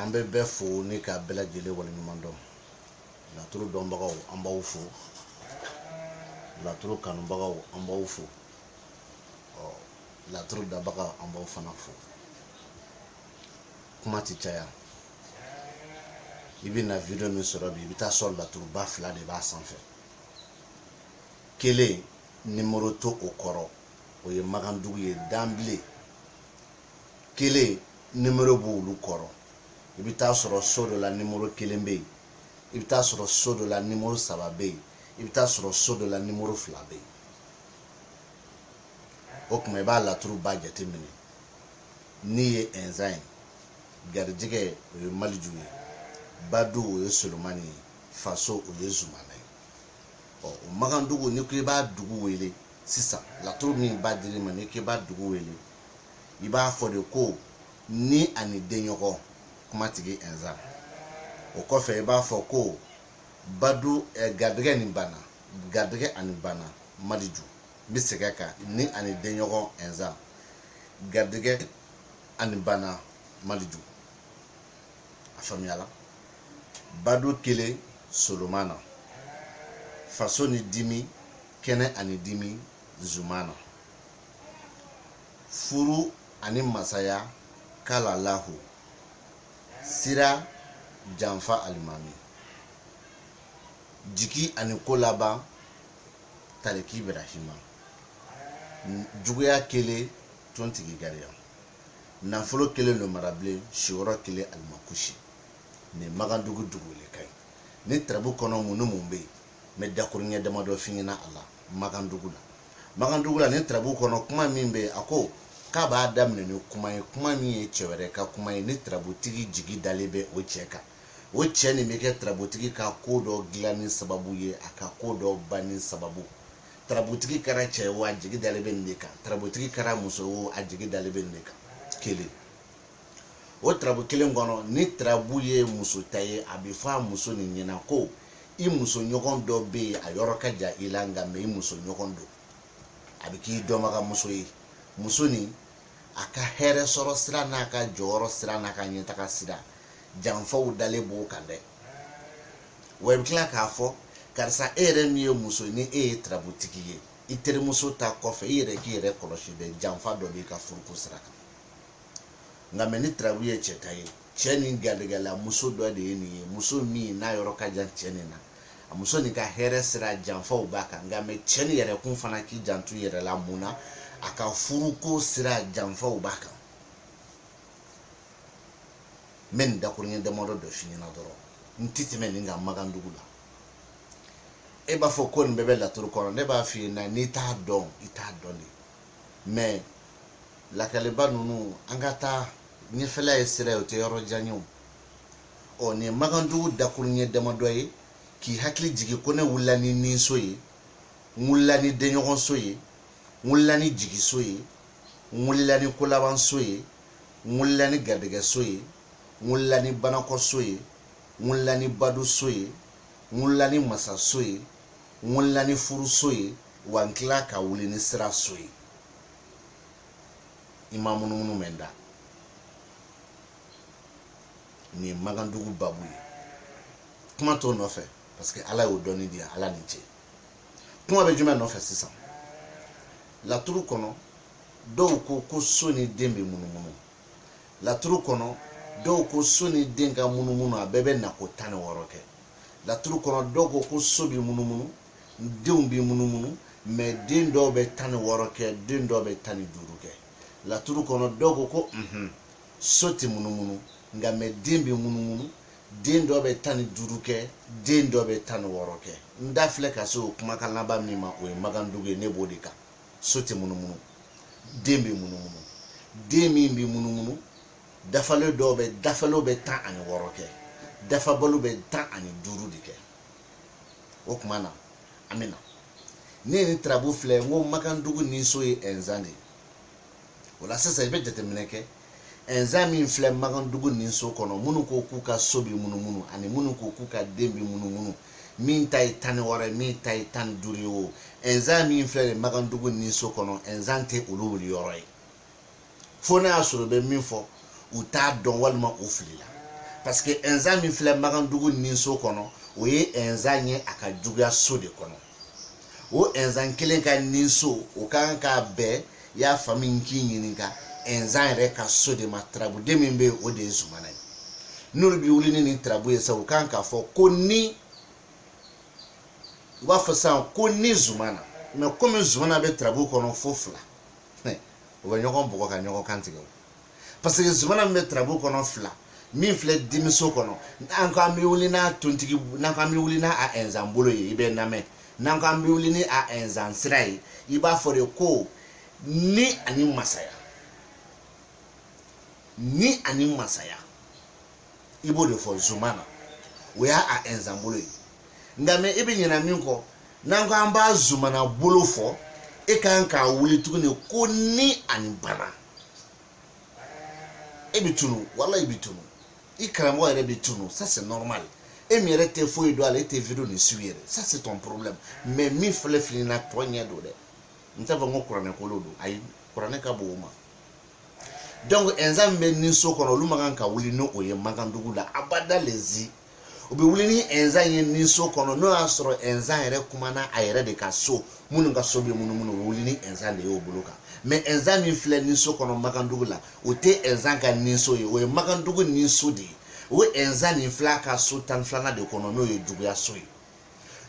an bɛ bɛɛ fo ni ka bɛɛ lajɛlen waleɲuman dɔn laturu dɔnbagaw an b'aw fo laturu kanubagaw an b'aw fo ɔ laturu dabaga an b'aw fana fo kuma ti caya i bɛ na video min sɔrɔ bi i bɛ taa sɔrɔ laturuba fila de b'a sanfɛ kelen nimero t'o kɔrɔ o ye magandugu ye danbile kelen nimero b'olu kɔrɔ i bɛ taa sɔrɔ so dɔ la nimero kelen bɛ yen i bɛ taa sɔrɔ so dɔ la nimero saba bɛ yen i bɛ taa sɔrɔ so dɔ la nimero fila bɛ yen o tuma i b'a laturuba jateminɛ ni ye ɛnzan ye garijɛgɛ o ye maliju ye badu o ye solomani ye faso o ye zumana ye ɔ o magandugu n'i ko i b'a dugu wele sisan laturu min b'a dili ma n'i k'i b'a dugu wele i b'a fɔ de ko ni ani denɲɔgɔn kuma tigi ɛnza o kɔfɛ i b'a fɔ ko badu eh, garijɛgɛ ni bana garijɛgɛ ani bana maliju n bɛ segin a kan ni ani denɲɔgɔn ɛnza garijɛgɛ ani bana maliju a faamuyala badu kelen solomana faso ni dimi kɛnɛ ani dimi zumana. Furu ani masaya kalalahu sira janfa alimami. Jigi ani ko laban taliki Ibrahima. Juguya kelen tontigi gariya. Nafolo kelen lomarabilen siyɔrɔ kelen alimakusi. Nin Magandugu dugu wele kan ye. Nin tarabu kɔnɔ mun ni mun bɛ yen? n bɛ dakuruɲɛ damadɔ f'i ɲɛna a la magandugu la magandugu la nin tarabu kɔnɔ kuma min bɛ yen a ko k'a b'a daminɛ ni kuma ye kuma min ye cɛ wɛrɛ ka kuma ye ni tarabutigi jigi dalen bɛ o cɛ kan o cɛ nin bɛ kɛ tarabutigi ka ko dɔ dilanni sababu ye a ka ko dɔ banni sababu tarabutigi kɛra cɛ wo a jigi dalen bɛ nin de kan tarabutigi kɛra muso wo a jigi dalen bɛ nin de kan kelen o tarabu kelen kɔnɔ ni tarabu ye muso ta ye a bɛ fɔ a muso nin ɲɛna ko i muso ɲɔgɔn dɔ bɛ yen a yɔrɔ ka jan i la nka mɛ i muso ɲɔgɔn don a bɛ k'i dɔnbagamuso ye muso nin a ka hɛrɛ sɔrɔ sira n'a ka jɔyɔrɔ sira n'a ka ɲɛtaga sira janfaw dalen b'o kan dɛ wa i bɛ tila k'a fɔ karisa e yɛrɛ min ye muso ni e ye tarabutigi ye i terimuso ta kɔfɛ i yɛrɛ k'i yɛrɛ kɔlɔsi dɛ janfa dɔ b'i ka furuko sira kan nka mɛ ni tarabu ye cɛ ta ye cɛ nin garijɛgɛla muso dɔ de ye nin ye muso min n'a yɔrɔ ka jan cɛ nin na a muso nin ka hɛrɛ sira janfaw b'a kan nka mɛ cɛ nin yɛrɛkun fana k'i janto i yɛrɛ la mun na a ka furuko sira janfaw b'a kan n bɛ nin dakuruɲɛ damadɔ dɔ f'i ɲɛna dɔrɔn n tɛ tɛmɛ nin kan magandugu la e b'a fɔ ko nin bɛɛ bɛ laturu kɔnɔ ne b'a f'i ɲɛna n'i t'a dɔn i t'a dɔn de mɛ lakaliba ninnu an ka taa ɲɛfɛla ye sira ye o tɛ yɔrɔ jan ye o ɔ nin ye magandugu dakuruɲɛ damadɔ ye k'i hakili jigin ko ne wulila ni ninso ye n wulila ni denɲɔgɔnso ye n wulila ni jigiso ye n wulila ni kolabanso ye n wulila ni garijɛgɛso ye n wulila ni banakɔso ye n wulila ni baduso ye n wulila ni masaso ye n wulila ni furuso ye wa n tila ka wuli ni siraso ye i ma munumunu mɛn n da nin ye magandugu babu ye kuma t'o nɔfɛ parce que ala y'o dɔnni di yan ala ni ce kuma bɛ jumɛn nɔfɛ sisan laturu kɔnɔ dɔw ko ko so ni den bɛ munumunu laturu kɔnɔ dɔw ko so ni den ka munumunu a bɛɛ bɛ nako tan ni wɔɔrɔ kɛ laturu kɔnɔ dɔw ko ko so b'i munumunu denw b'i munumunu mɛ den dɔw bɛ tan ni wɔɔrɔ kɛ den dɔw bɛ tan ni duuru kɛ laturu kɔnɔ dɔw ko ko unhun so tɛ munumunu nka mɛ den bɛ munumunu den dɔ bɛ tan ni duuru kɛ den dɔ bɛ tan ni wɔɔrɔ kɛ n da filɛ ka se o kumakan laban min ma o ye magandugu ye ne b'o de kan so tɛ munumunu den bɛ munumunu den min bɛ munumunu dafalen dɔw bɛ dafalenw bɛ tan ani wɔɔrɔ kɛ dafabaliw bɛ tan ani duuru de kɛ o tuma na an bɛ na ne ye nin tarabu filɛ n ko magandugu ninso ye ɛnzan de ye o la sisan i bɛ jateminɛ kɛ ɛnzan min filɛ magandugu ninso kɔnɔ minnu ko k'u ka so bɛ munumunu ani minnu ko k'u ka den bɛ munumunu min ta ye tan ni wɔɔrɔ ye min ta ye tan ni duuru ye o ɛnzan min filɛ nin magandugu ninso kɔnɔ ɛnzan tɛ olu wuli yɔrɔ ye fo n'a y'a sɔrɔ i bɛ min fɔ u t'a dɔn walima u filila parce que ɛnzan min filɛ magandugu ninso kɔnɔ o ye ɛnzan ye a ka juguya so de kɔnɔ o ɛnzan kelen ka ninso o ka kan k'a bɛɛ y'a faamu n k'i ɲininka ɛnzan yɛrɛ ka so de ma tarabuden min bɛ yen o de ye zumana ye n'olu bɛ wuli ni nin tarabu ye sa u ka kan k'a fɔ ko ni u b'a fɔ sisan ko ni zumana mɛ komi zumana bɛ tarabu kɔnɔ fo fila u bɛ ɲɔgɔn bugɔ ka ɲɔgɔn kan tigɛ parce que zumana min bɛ tarabu kɔnɔ fila min filɛ dimiso kɔnɔ n'an ko an bɛ wuli n'a tontigi n'an ko an bɛ wuli n'a a ɛnzan bolo ye i bɛ namɛn n'an ko an bɛ wuli ni a ɛnzan sira ye i b'a fɔ de ko ni ani masaya ni ani masaya i b'o de fɔ zumana o y'a a ɛnzan bolo ye nka mais e bɛ ɲinɛ min kɔ n'an ko an b'a zumana bolo fɔ e kan k'a wuli tuguni ko ni ani bana e bɛ tunu voilà i bɛ tunu i karamɔgɔ yɛrɛ bɛ tunu ça c'est normal e min yɛrɛ tɛ foyi dɔn ale tɛ video nin suivi yɛrɛ ça c'est ton problème mais min filɛ nin na tiɲɛ don dɛ n t'a fɔ n ko kuranɛ kolo don ayi kuranɛ ka bon o ma donc ɛnzan min bɛ ni so kɔnɔ olu man kan ka wuli ni o ye makandugu la abada lezi u bɛ wuli ni ɛnzan ye ni so kɔnɔ n'o y'a sɔrɔ ɛnzan yɛrɛ kumana a yɛrɛ de ka so minnu ka so bɛ munumunu u bɛ wuli ni ɛnzan de y'o bolo kan mais ɛnzan min filɛ ni so kɔnɔ makandugu la o tɛ ɛnzan ka ni so ye o ye makandugu ni so de ye o ɛnzan nin filɛ a ka so tan ni filanan de kɔnɔ n'o ye juguya so ye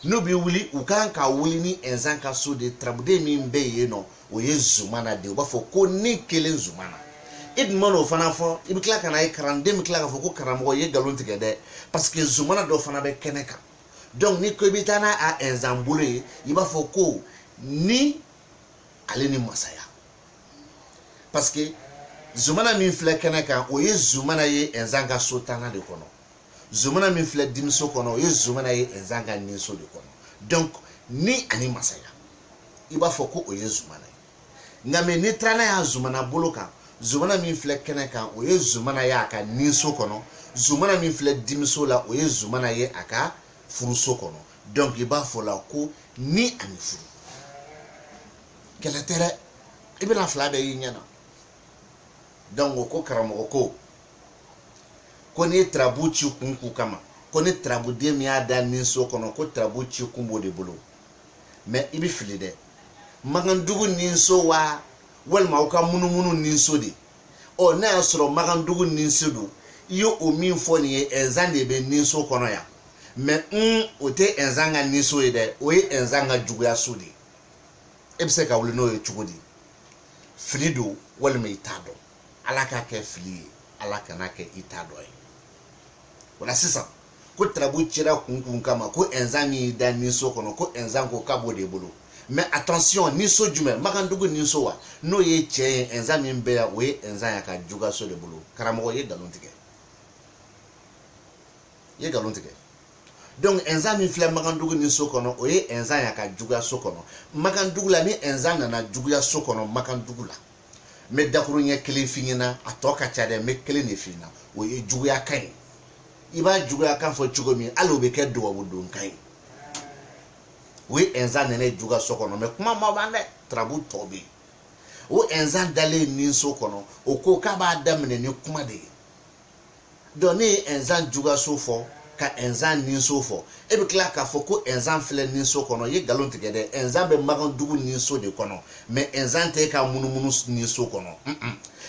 n'u bɛ wuli u kan ka wuli ni ɛnzan ka so de tarabuden min bɛ yen nɔ o ye zumana de ye u b'a fɔ ko ni kelen zumana i dun mana o fana fɔ i bɛ tila ka na ye kalanden bɛ tila k'a fɔ ko karamɔgɔ ye nkalon tigɛ dɛ parce que zumana dɔ fana bɛ kɛnɛ kan donc n'i ko i bɛ taa n'a a ɛnzan bolo ye i b'a fɔ ko ni ale ni masaya parce que zumana min filɛ kɛnɛ kan o ye zumana ye ɛnzan ka so tannan de kɔnɔ zumana min filɛ dimiso kɔnɔ o ye zumana ye ɛnzan ka ninso de kɔnɔ donc ni ani masaya i b'a fɔ ko o ye zumana ye nka mais n'i taara n'a y'a zumana bolo kan zumana min filɛ kɛnɛ kan o ye zumana ye a ka ninso kɔnɔ zumana min filɛ dimiso la o ye zumana ye a ka furuso kɔnɔ donc i b'a fɔ la ko ni ani furu kɛlɛ tɛ dɛ i bɛna fila bɛɛ y'i ɲɛ na donc o ko karamɔgɔ ko ko n'i ye tarabu ci kun kun kama ko ni tarabuden min y'a da ni so kɔnɔ ko tarabu ci kun b'o de bolo mais i bɛ fili dɛ makandugu ni so wa walima o ka munumunu ni so de ɔ n'a y'a sɔrɔ makandugu ni so don i ye o min fɔ nin ye ɛnzan de bɛ ni so kɔnɔ yan mais o tɛ ɛnzan ka ni so ye dɛ o ye ɛnzan ka juguya so de ye e bɛ se ka wuli n'o ye cogo di fili don walima i t'a dɔn ala k'a kɛ fili ye ala kan'a kɛ i t'a dɔn ye voilà sisan ko tarabu cira kun kun kama ko ɛnzan min y'i da ninso kɔnɔ ko ɛnzan ko k'a b'o de bolo mais attention ninso jumɛn makandugu ninso wa n'o ye cɛn ye ɛnzan min bɛ yan o ye ɛnzan y'a ka juguyaso de bolo karamɔgɔ ye nkalon tigɛ ye nkalon tigɛ donc ɛnzan min filɛ makandugu ni so kɔnɔ o ye ɛnzan y'a ka juguya so kɔnɔ makandugu la ni ɛnzan nana juguya so kɔnɔ makandugu la n bɛ dakuruɲɛ kelen f'i ɲɛna a tɔ ka ca dɛ n bɛ kelen de f'i ɲɛna o ye juguya kan ye i b'a juguya kan fɔ cogo min hali o bɛ kɛ dubabu don kan ye o ye ɛnzan nalen juguya so kɔnɔ mɛ kuma ma ban dɛ tarabu tɔ bɛ yen o ɛnzan dalen ninso kɔnɔ o ko k'a b'a daminɛ ni kuma de ye dɔn n'i ye ɛnzan juguyaso fɔ ka ɛnzan ninso fɔ e bɛ tila k'a fɔ ko ɛnzan filɛ ninso kɔnɔ i ye nkalon tigɛ dɛ ɛnzan bɛ magandugu ninso de kɔnɔ mɛ ɛnzan tɛ e ka munumunu ninso kɔnɔ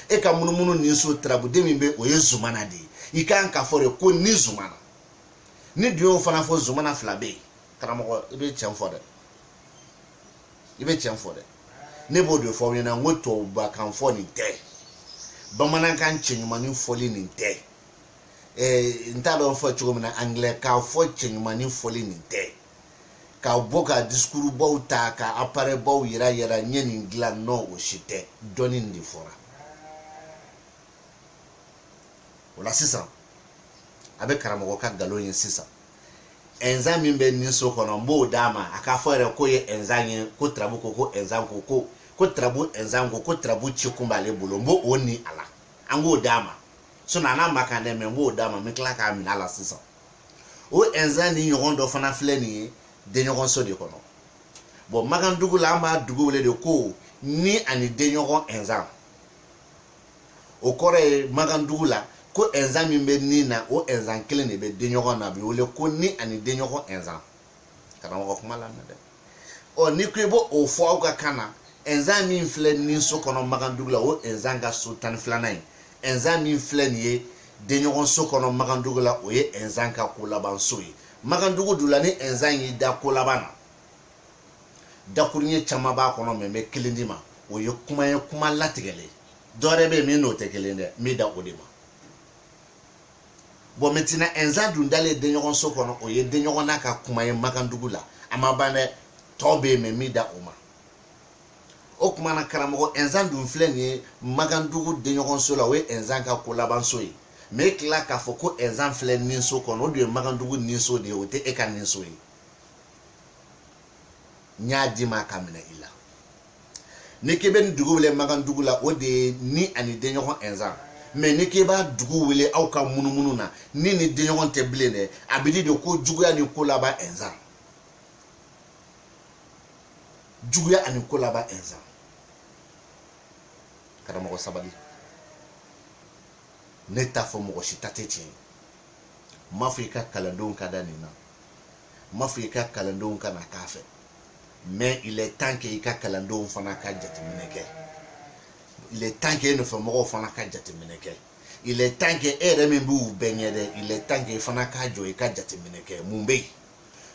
e ka munumunu ninso tarabuden min bɛ o ye zumana de ye i kan k'a fɔ de ko ni zumana n'i dun y'o fana fɔ zumana fila bɛ yen karamɔgɔ i bɛ tiɲɛ fɔ dɛ i bɛ tiɲɛ fɔ dɛ ne b'o de fɔ aw ɲɛna n ko tubabukan fɔ nin tɛ bamanankan cɛɲumanin fɔli nin tɛ ɛɛ n t'a dɔn fɔ cogo min na angilɛkan fɔ cɛɲumanin fɔli nin tɛ ka bɔ ka diskurubaw ta ka aparɛbaw yira yira n ye nin dilan nɔ o si tɛ dɔnni nin de fɔra o la sisan a bɛ karamɔgɔ ka nkalon ye sisan ɛnzan min bɛ nin so kɔnɔ n b'o d'a ma a k'a fɔ yɛrɛ k'o ye ɛnzan ye ko tarabu ko ko ɛnzan ko ko ko tarabu ɛnzan ko ko tarabu ci kun b'ale bolo n b'o ni a la an k'o d'a ma sinɔn a n'a man kan dɛ mɛ n b'o d'a ma n bɛ tila k'a minɛ a la sisan o ɛnzan ni ɲɔgɔn dɔ fana filɛ nin ye denɲɔgɔnso de kɔnɔ bɔn magandugu la an b'a dugu wele de ko ni ani denɲɔgɔn ɛnzan o kɔrɔ ye magandugu la ko ɛnzan min bɛ ni na o ɛnzan kelen de bɛ denɲɔgɔn na a bɛ wele ko ni ani denɲɔgɔn ɛnzan karamɔgɔ kuma lamɛn dɛ ɔ n'i ko i b'o fɔ aw ka kan na ɛnzan min filɛ ni so kɔnɔ magandugu la o ɛnzan ka so tan ni filanan ye ɛnzan min filɛ nin ye denɲɔgɔn so kɔnɔ magandugu la o ye ɛnzan ka ko laban so ye magandugu dula ni ɛnzan y'i da ko laban na dakuruɲɛ caman b'a kɔnɔ mɛ n bɛ kelen d'i ma o ye kuma ye kuma latigɛlen dɔwɛrɛ bɛ yen min n'o tɛ kelen dɛ n bɛ dan o de ma bɔn mɛntɛnan ɛnzan dun dalen denɲɔgɔn so kɔnɔ o ye denɲɔgɔn n'a ka kuma ye magandugu la a ma ban dɛ tɔ bɛ yen mɛ n bɛ dan o ma o tuma na karamɔgɔ ɛnzan dun filɛ nin ye magandugu denɲɔgɔnso la o ye ɛnzan ka ko labanso ye mɛ e tila k'a fɔ ko ɛnzan filɛ ninso kɔnɔ o dun ye magandugu ninso de ye o tɛ e ka ninso ye n y'a d'i ma k'a minɛ i la n'i k'i bɛ nin dugu wele magandugu la o de ye ni ani denɲɔgɔn ɛnzan mɛ n'i k'i b'a dugu wele aw ka munumunu na ni ni denɲɔgɔn tɛ bilen dɛ a bɛ di de ko juguya ni ko laban ɛnzan juguya ani ko laban ɛnzan karamɔgɔ sabali ne t'a fɔ mɔgɔ si ta tɛ tiɲɛ ye n m'a fɔ i ka kalandenw ka da nin na n m'a fɔ i ka kalandenw kana k'a fɛ mais il est temps que i ka kalandenw fana ka jateminɛ kɛ il est temps que e nɔfɛ mɔgɔw fana ka jateminɛ kɛ il est temps que e yɛrɛ min b'u bɛɛ ɲɛ dɛ il est temps que i fana ka jɔ i ka jateminɛ kɛ mun bɛ yen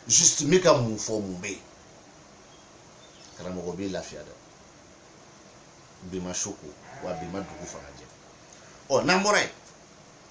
juste n bɛ ka mun fɔ mun bɛ yen karamɔgɔ b'i lafiya dɛ bi ma su ko wa bi ma dugu fana jɛ ɔ n'an bɔra yen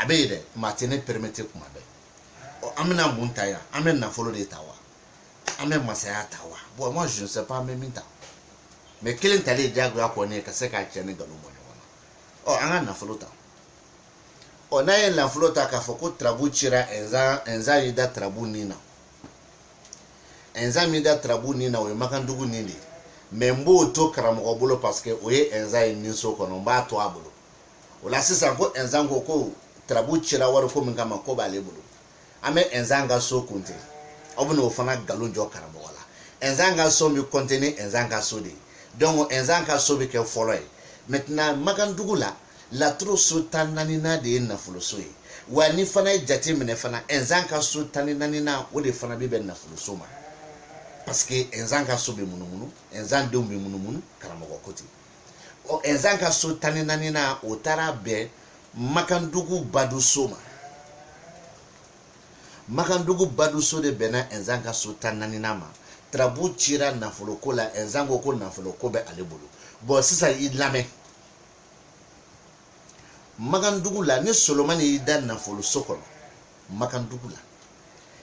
a bɛ yen dɛ mais a tɛ ne permettre kuma bɛɛ ɔ an bɛna mun ta yan an bɛ nafolo de ta wa an bɛ masaya ta wa bon moi je ne sais pas an bɛ min ta mais kelen talen diyagoya kɔni ka se ka cɛn ni nkalon bɔ ɲɔgɔn na ɔ an ka nafolo ta ɔ n'an ye nafolo ta k'a fɔ ko tarabu cira ɛnzan ɛnzan y'i da tarabu nin na ɛnzan min da tarabu nin na o ye makandugu nin de ye mais n b'o to karamɔgɔ bolo parce que o ye ɛnzan ye nin so kɔnɔ n b'a to a bolo o la sisan ko ɛnzan ko ko tarabu cira wari ko min kama ko b'ale bolo an bɛ ɛnzan ka so compter aw bɛna o fana nkalon jɔ karamɔgɔ la ɛnzan ka so bɛ compter ni ɛnzan ka so de ye donc ɛnzan ka so bɛ kɛ fɔlɔ ye maintenant makandugu la laturu so tan naaninan de ye nafoloso ye wa n'i fana ye jate minɛ fana ɛnzan ka so tan ni naaninan o de fana bɛ bɛn nafoloso ma parce que ɛnzan ka so bɛ munumunu ɛnzan denw bɛ munumunu karamɔgɔ ko ten ɔ ɛnzan ka so tan ni naaninan o taara bɛn makandugu baduso ma makandugu baduso de bɛnna ɛnzan ka so tan naaninan ma tarabu cira nafoloko la ɛnzan ko ko nafoloko bɛ ale bolo bon sisan i lamɛn makandugu la ni solomani y'i da nafoloso kɔnɔ makandugu la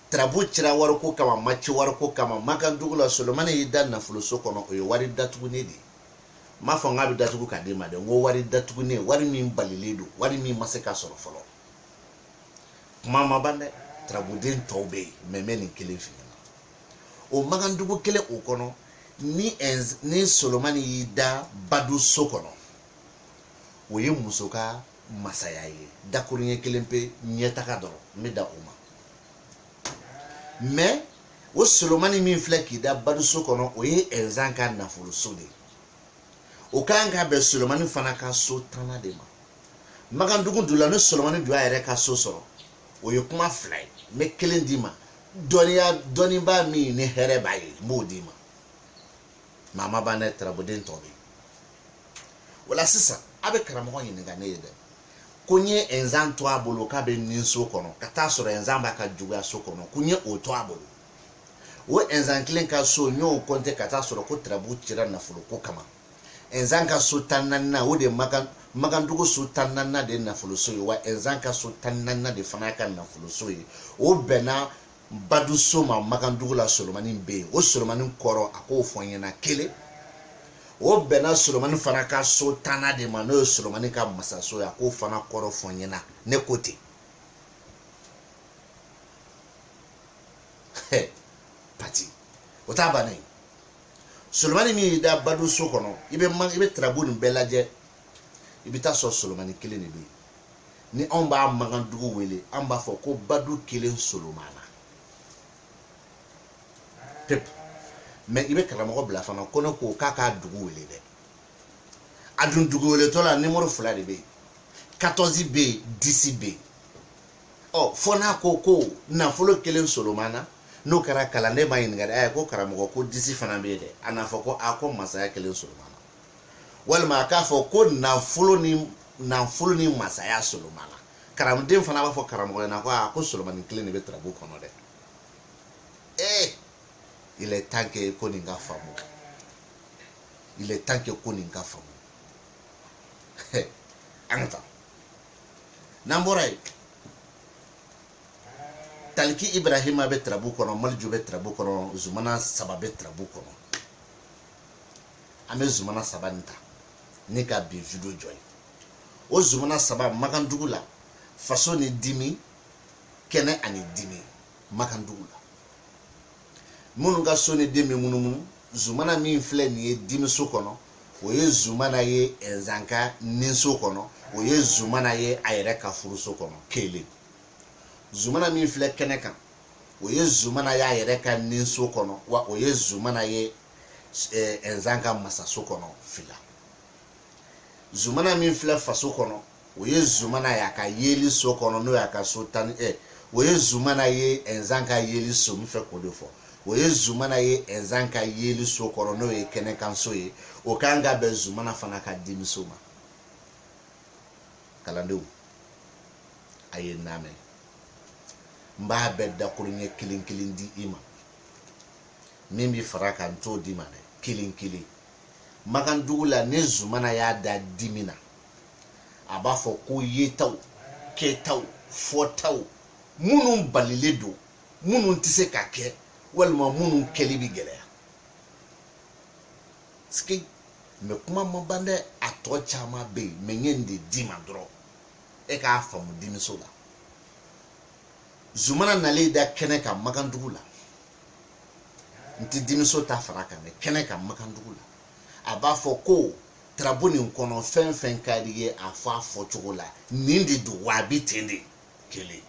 tarabu cira wariko kama ma ci wariko kama makandugu la solomani y'i da nafoloso kɔnɔ o ye wari datugunen de ye n m'a fɔ n k'a bɛ datugu ka d'e ma dɛ n ko wari datugunen wari min balilen don wari min ma se ka sɔrɔ fɔlɔ kuma ma ban dɛ tarabuden tɔw bɛ yen mais n bɛ nin kelen f'i ɲɛna o makandugu kelen o kɔnɔ ni solomani y'i da badu so kɔnɔ o ye muso ka masaya ye dakuruɲɛ kelen pe ɲɛtaga dɔrɔn n bɛ dan o ma mais o solomani min filɛ k'i da baduso kɔnɔ o ye ɛnzan ka nafoloso de ye o ka kan ka bɛn solomani fana ka so tannan de ma makandugu dun la ni solomani dun y'a yɛrɛ ka so sɔrɔ o ye kuma fila ye n bɛ kelen d'i ma dɔnniya dɔnnibaa min ni hɛrɛ b'a ye n b'o d'i ma mais a ma ban dɛ tarabuden tɔ bɛ yen o la sisan a bɛ karamɔgɔ ɲininka ne ye dɛ ko n ye ɛnzan to a bolo k'a bɛ nin so kɔnɔ ka t'a sɔrɔ ɛnzan b'a ka juguya so kɔnɔ ko n ye o to a bolo o ɛnzan kelen ka so n y'o compter ka t'a sɔrɔ ko tarabu cira nafolo ko kama ɛnzan ka so tan naaninan o de makandugu so tan naaninan de ye nafoloso ye wa ɛnzan ka so tan naaninan de fana y'a ka nafoloso ye o bɛnna Badu so ma Makandugu la Solomani bɛ yen o Solomani kɔrɔ a k'o fɔ n ɲɛna kelen o bɛnna Solomani fana ka so tannan de ma n'o ye Solomani ka masaso ye a k'o fana kɔrɔ fɔ n ɲɛna ne ko ten pati o t'a bannen ye Solomani min y'i da Badu so kɔnɔ i bɛ i bɛ tarabu nin bɛɛ lajɛ i bɛ taa sɔrɔ Solomani kelen de bɛ yen ni anw b'a makandugu wele an b'a fɔ ko badu kelen solomana pep mais i bɛ karamɔgɔ bila fana ko ne ko k'a k'a dugu wele dɛ a dun dugu weletɔ la nimɔrɔ fila de bɛ yen 14 bɛ yen 10 bɛ yen ɔ fɔ n'a ko ko nafolo kelen solomana n'o kɛra kalanden m'a ɲininka dɛ ko karamɔgɔ ko disi fana bɛ yen dɛ a n'a fɔ ko a ko masaya kelen solomana walima a k'a fɔ ko nafolo ni nafolo ni masaya solomana karamɔgɔden fana b'a fɔ karamɔgɔ ɲɛna ko aa ko solomani kelen de bɛ tarabu kɔnɔ dɛ ee eh, il est temps que ko nin ka faamu il est temps que ko nin ka faamu an ka taa n'an bɔra yen taliki ibrahima bɛ tarabu kɔnɔ maleju bɛ tarabu kɔnɔ zumana saba bɛ tarabu kɔnɔ an bɛ zumana saba nin ta ni ka bi video jɔ ye o zumana saba makandugu la faso ni dimi kɛnɛ ani dimi makandugu la minnu ka so ni den bɛ munumunu zumana min filɛ nin ye dimiso kɔnɔ o ye zumana ye nzan ka ninso kɔnɔ o ye zumana ye a yɛrɛ ka furuso kɔnɔ kelen zumana min filɛ kɛnɛ kan o ye zumana y'a yɛrɛ ka ninso kɔnɔ wa o ye zumana ye nzan eh, ka masaso kɔnɔ fila zumana min filɛ faso kɔnɔ o ye zumana y'a ka yeli so kɔnɔ n'o y'a ka so tan ɛ eh, o ye zumana ye nzan ka yeli so n bɛ fɛ k'o de fɔ o ye zumana ye nzan ka yeli so kɔnɔ n'o ye kɛnɛkanso ye o ka kan ka bɛn zumana fana ka dimiso ma kalandenw a ye n lamɛn n b'a bɛɛ dakuruɲɛ kelen kelen di i ma min bɛ fara kan n t'o d'i ma dɛ kelen kelen makandugu la ni zumana y'a da dimi na a b'a fɔ ko yetaw kɛtaw fɔtaw minnu balilen don minnu tɛ se ka kɛ walima minnu kɛli bɛ gɛlɛya sike mɛ kuma ma ban dɛ a tɔ caman bɛ yen mɛ n ye nin de d'i ma dɔrɔn e k'a faamu dimiso la zumana nalen y'i da kɛnɛ kan magandugu la n tɛ dimiso ta fara kan dɛ kɛnɛ kan magandugu la a b'a fɔ ko tarabu nin kɔnɔ fɛn fɛn ka di ye a fɔ a fɔcogo la nin de don wa a bɛ ten de kelen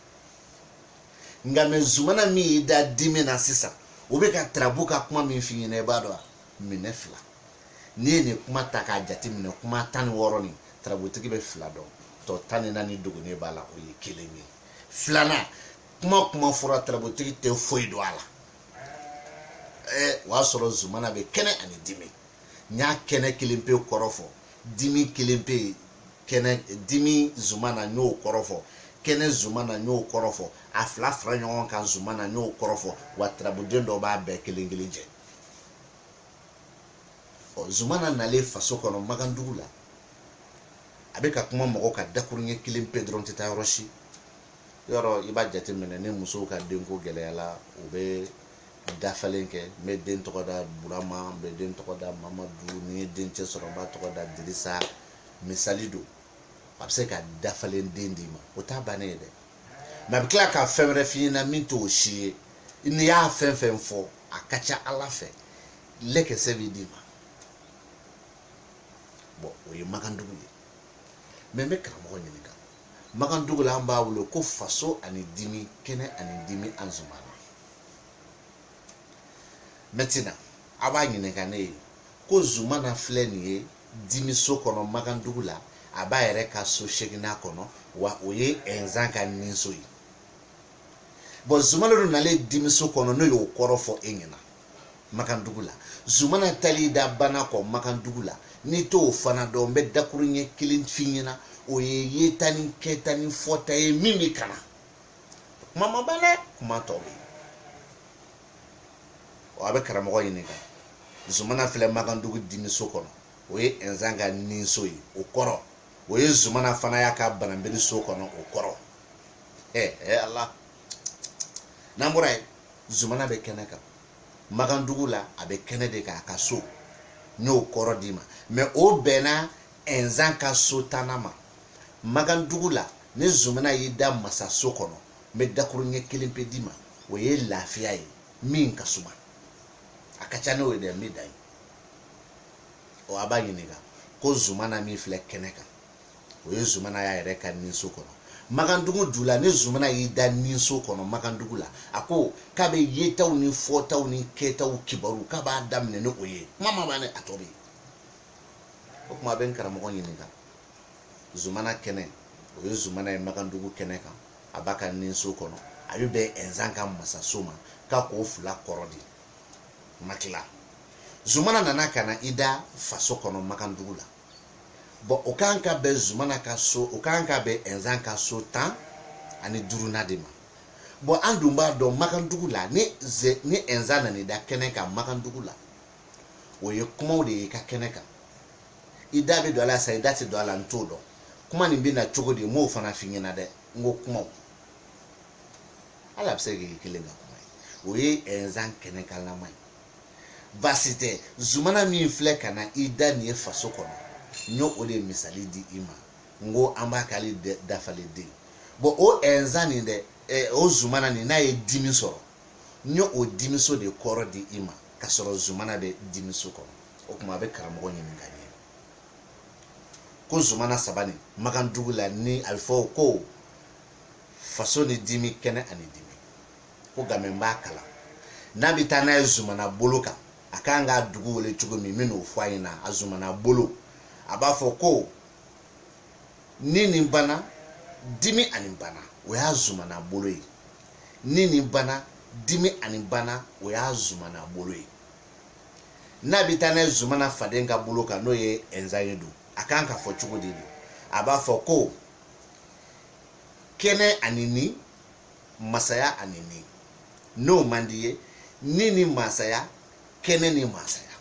nka mɛ zumana min y'i da dimi na sisan o bɛ ka tarabu ka kuma min f'i ɲɛna i b'a dɔn wa minɛ fila n'i ye nin kuma ta k'a jate minɛ kuma tan ni wɔɔrɔ nin tarabutigi bɛ fila dɔn tɔ tan ni naani dogonnen b'a la o ye kelen ye filanan kuma kuma fɔra tarabutigi tɛ foyi dɔn a la ɛɛ o y'a sɔrɔ zumana bɛ kɛnɛ ani dimi n y'a kɛnɛ kelen pe kɔrɔ fɔ dimi kelen pe kɛnɛ dimi zumana n y'o kɔrɔ fɔ kɛnɛ zumana n y'o kɔrɔ fɔ a fila fara ɲɔgɔn kan zumana n y'o kɔrɔ fɔ wa tarabuden dɔ b'a bɛɛ kelen kelen jɛ ɔ zumana nalen faso kɔnɔ magandugu la a bɛ ka kuma mɔgɔ ka dakuruɲɛ kelen pe dɔrɔn tɛ taa yɔrɔ si yɔrɔ i b'a jateminɛ ni musow ka denko gɛlɛyala u bɛ dafalen kɛ n bɛ den tɔgɔ da burama n bɛ den tɔgɔ da mamadu ni n ye dencɛ sɔrɔ n b'a tɔgɔ da dirisa misali don a bɛ se ka dafalen den d'i ma o t'a bannen ye dɛ mɛ a bɛ tila ka fɛn wɛrɛ f'i ɲɛna min t'o si ye n'i y'a fɛn fɛn fɔ a ka ca ala fɛ lɛkɛsɛ bɛ d'i ma bɔn o ye magandugu ye mɛ n bɛ karamɔgɔ ɲininka magandugu la an b'a wele ko faso ani dimi kɛnɛ ani dimi an zumana mɛtina a b'a ɲininka ne ye ko zumana filɛ nin ye dimiso kɔnɔ magandugu la a b'a yɛrɛ ka so seginna kɔnɔ wa o ye inzan ka ninso ye bɔn zumana dun nalen dimiso kɔnɔ n'o y'o kɔrɔ fɔ e ɲɛna magandugu la zumana tali da bana kɔ magandugu la n'i t'o fana dɔn n bɛ dakuruɲɛ kelen f'i ɲɛna o ye yeta ni kɛta ni fɔta ye min bɛ ka na kuma ma ban dɛ kuma tɔ bɛ ɔ a bɛ karamɔgɔ ɲininka zumana filɛ magandugu dimiso kɔnɔ o ye inzan ka ninso ye o kɔrɔ o ye zumana fana y'a ka bananbiri so kɔnɔ o kɔrɔ ɛ ɛ ala n'an bɔra yen zumana bɛ kɛnɛ kan magandugu la a bɛ kɛnɛ de kan a ka so n y'o kɔrɔ d'i ma mɛ o bɛnna inzan ka so tannan ma magandugu la ni zumana y'i da masaso kɔnɔ n bɛ dakuruɲɛ kelen pe d'i ma o ye lafiya ye min ka suma a ka ca n'o ye dɛ n bɛ dan ye ɔ a b'a ɲininka ko zumana min filɛ kɛnɛ kan o ye zumana y'a yɛrɛ ka ninso kɔnɔ magandugu du la ni zumana y'i da ninso kɔnɔ magandugu la a ko k'a bɛ yetaw ni fɔtaw ni kɛtaw kibaru k'a b'a daminɛ ni o ye kuma ma ban dɛ a tɔ bɛ yen o tuma a bɛ n karamɔgɔ ɲininka zumana kɛnɛ o ye zumana ye magandugu kɛnɛ kan a b'a ka ninso kɔnɔ a bɛ bɛn ɛnzan ka masaso ma k'a k'o fila kɔrɔ d'i ma tila zumana nana ka na i da faso kɔnɔ magandugu la bɔn o kan ka bɛn zumana ka so o kan ka bɛn ɛnzan ka so tan ani duurunan de ma bɔn an dun b'a dɔn magandugu la ni ze ni ɛnzan nana i da kɛnɛ kan magandugu la o ye kumaw de ye i ka kɛnɛ kan i da bɛ don a la sa i da tɛ don a la n t'o dɔn kuma nin bɛ na cogo di n b'o fana f'i ɲɛna dɛ n ko kumaw ala bɛ se k'i kelen ka kuma ye o ye ɛnzan kɛnɛkanlama ye baasi tɛ zumana min filɛ ka na i da nin ye faso kɔnɔ n y'o o de misali di i ma n ko an b'a k'ale dafalen den bɔn o ɛnzan nin dɛ o zumana nin n'a ye dimi sɔrɔ n ye o dimiso de kɔrɔ di i ma k'a sɔrɔ zumana bɛ dimiso kɔnɔ o tuma a bɛ karamɔgɔ ɲininka n ye ko zumana saba nin magandugu la ni a bɛ fɔ ko faso ni dimi kɛnɛ ani dimi ko nka mɛ n b'a kalan n'a bɛ taa n'a ye zumana bolo kan a kan k'a dugu wele cogo min n bɛ n'o fɔ a ɲɛna a zumana bolo a b'a fɔ ko ni nin bana dimi ani bana o y'a zumana bolo ye ni nin bana dimi ani bana o y'a zumana bolo ye n'a bɛ taa n'a ye zumana faden ka bolo kan n'o ye ɛnzan ye don a kan ka fɔ cogo di don a b'a fɔ ko kɛnɛ ani ni masaya ani ni n'o man di ye ni ni masaya kɛnɛ ni masaya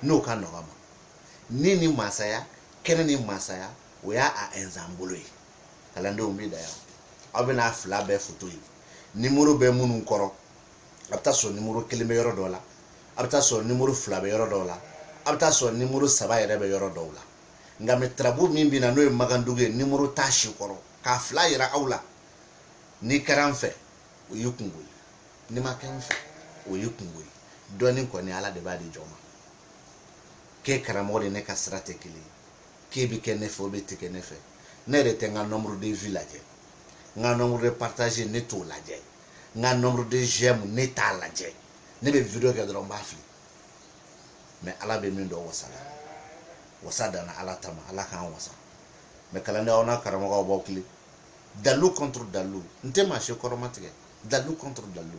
n'o ka nɔgɔ ma ni ni masaya kɛnɛ ni masaya o y'a a ɛnzan bolo ye kalandenw bɛ dan yan aw bɛna a fila bɛɛ foto ye nimoro bɛ minnu kɔrɔ a bɛ taa sɔrɔ nimoro kelen bɛ yɔrɔ dɔ la a bɛ taa sɔrɔ nimoro fila bɛ yɔrɔ dɔw la a bɛ taa sɔrɔ nimoro saba yɛrɛ bɛ yɔrɔ dɔw la nka mɛ tarabu min bɛ na n'o ye magandugu ye nimoro t'a si kɔrɔ k'a fila yira aw la n'i kɛra n fɛ o y'i kungo ye n'i ma kɛ n fɛ o y'i kungo ye dɔɔnin kɔni ala de b'a di jɔn ma k'e karamɔgɔ de ne ka sira tɛ kelen ye k'e bɛ kɛ ne fɛ o bɛ tɛ kɛ ne fɛ ne yɛrɛ tɛ n ka nombre de vues lajɛ n ka nombre de partage ne t'o lajɛ n ka nombre de j'aime ne t'a lajɛ ne bɛ video kɛ dɔrɔn n b'a fili mais ala bɛ min don wasa la wasa danna ala ta ma ala k'an wasa mais kalanden aw n'a karamɔgɔw b'aw kile dalilu contre dalilu n tɛ maa si kɔrɔmatigɛ dalilu contre dalilu